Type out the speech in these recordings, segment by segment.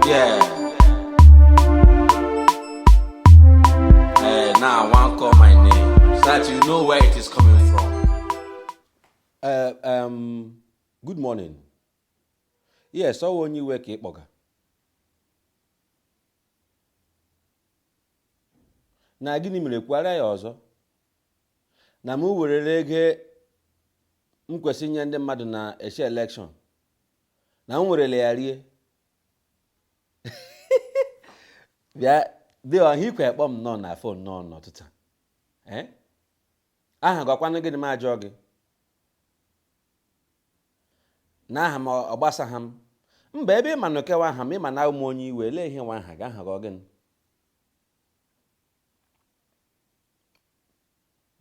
Yeah. Eh, now I want call my name so that you know where it is coming from. Uh, um, good morning. Yes, ọ onye iwe ka ị kpọga. Na gịnị mere kwuharịa ya ọzọ? Na m werere ego m kwesịrị inye ndị mmadụ n'ishi elekshọn. na m werele ya rie bịa dị ọha ikwe akpọ m nọ na fon n'ọnụ ụtụtụ eh? aha gị ọkwanụ gịnị m ajụọ gị na aha m ọ gbasaghị m mba ebe ịma nke wụ aha m ịma na awụ m onye iwe lee ihe wụ aha gị aha gị ọ gịnị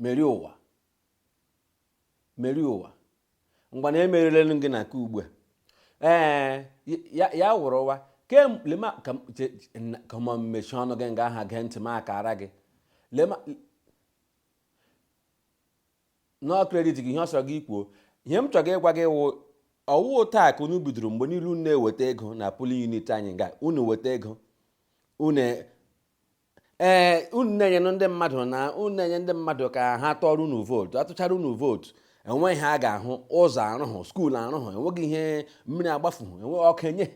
merie ụwa merie ụwa ngwanụ emerielenụ gị na nke ugbu a ee ya wụrụ ụwa kemlema ka m mechie ọnụ gị nga aha gee ntị m akara gị lema na ọ kredit gị ihe ọ sọrọ gị kwuo ihe m chọrọ ịgwa gị wụ ọwụ taa ka unu bidoro mgbe niile unu na-eweta ego na polling unit anyị nga unu weta ego unu ee unu na-enyenụ ndị mmadụ na unu na-enye ndị mmadụ ka ha tụọrọ unu vootu atụchaara unu vootu o nweghị ihe a ga-ahụ ụzọ arụhụ skuul arụhụ enweghị ihe mmiri agbafuhụ enweghị ọkụ enye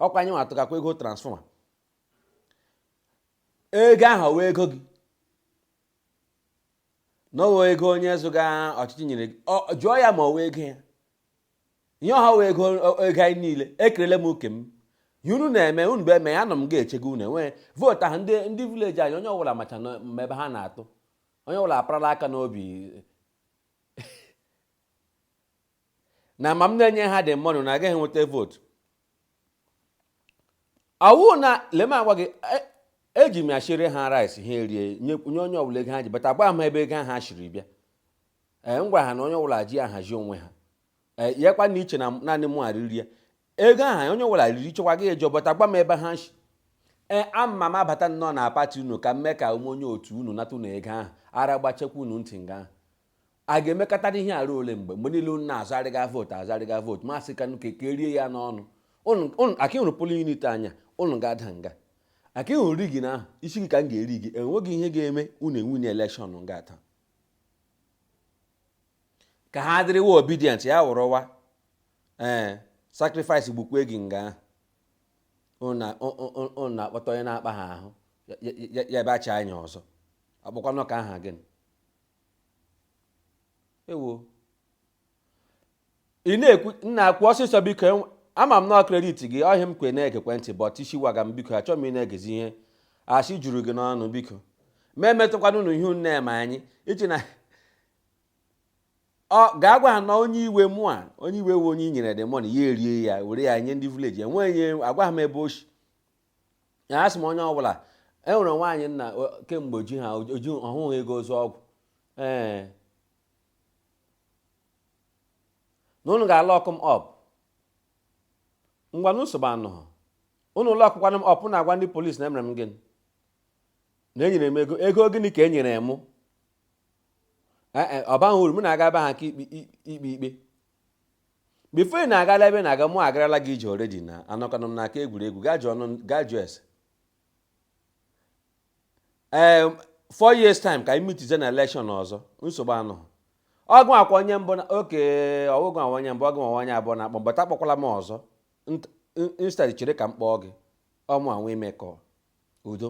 ọkwa anyị nwa tụgakwa ego transfọma ego ahụ ọwụ ego gị na ọwụ ego onye zọga ọchịchị nyere gị jụọ ya ma ọwụ ego ya ihe ahụ wụ ego ego anyị niile ekerele m oke m ihe unu na-eme unu bụ eme ya nọ m ga-echego unu enwee vootu ahụ ndị ndị vileji anyị onye ọbụla macha na ma ebe ha na-atụ onye ọbụla aparala aka n'obi na ma m na-enye ha the money na agaghị enweta vootu ọwụ na lee m agwa gị e- eji m ya shiri ha rice ha erie nye nye onye ọbụla ego ha ji bata ụgbọ ebe ego ahụ ha shiri bịa ee m gwara ha na onye ọbụla ji ahazi onwe ha ee ya kwa na iche na m- naanị mụwa riri ego ahụ onye ọbụla riri chekwa gị eji bata ụgbọ ebe ha shi ee ama m abata nnọọ na pati unu ka m mee ka m wụ onye otu unu nata unu ego ahụ ara gbachekwa unu ntị nga ahụ a ga-emekatara ihe ruo ole mgbe mgbe niile unu na-azụrịga vootu azụrịga vootu ma sị ka ka ka erie ya n'ọnụ Unu- unu- aka ịhụrụ polling unit anyị unu ga-ada nga aka ịhụrụ rigging ahụ isi gị ka m ga-eri gị enweghị ihe ga-eme unu ewinie elekshọn nga taa ka ha dịrịwa obidient ya wụrụwa ee sacrifice gbukwa gị nga ahụ unu na- ụ- ụ- ụ- unu na-akpọta onye na-akpa ha ahụ ya- ya- ya- ya bịa chaa anya ọzọ akpọkwanụ ka aha gịnị ewo ị na-ekwu nna kwuo ọsịsọ biko ama m na kredit gị ọhịa m kwe na-ege gị ntị bọt isi waga m biko achọghị m ị na-egezi ihe asị juru gị n'ọnụ biko ma emetụkwana unu ihe nne ma anyị iche na ọ ga-agwa ha na onye iwe mụ a onye iwe we onye e nyere the money ya erie ya were ya nye ndị vileji enweghị agwa ha m ebe o shi ya asị m onye ọbụla e nwere nwaanyị nna kemgbe oji ha oji ọ hụghị ego ịzụ ọgwụ ee na unu ga-alọkụ m ọp ngwanụ nsogbu anọghị unu lọkụkwanụ m ọp unu agwa ndị polisi na emere m gịnị na enyere m ego ego gịnị ka e nyere mụ ọ baghị uru m na-aga ebe ha ga-ekpe ikpe bifo ị na-agala ebe na-aga mụ agarala gị ije oredi na anọkwanụ m n'aka egwuregwu gaa jụọ ese ee ehm, four years time ka anyị mitize na elekshọn ọzọ nsogbu anọghị ọ ga-awụkwa onye mbụ na oke ọwụgụ awa onye mbụ ọgụ awa onye abụọ na-akpọ mbata akpọkwala m ọzọ instead chere ka m kpọọ gị ọ mụ nwa imekọ udo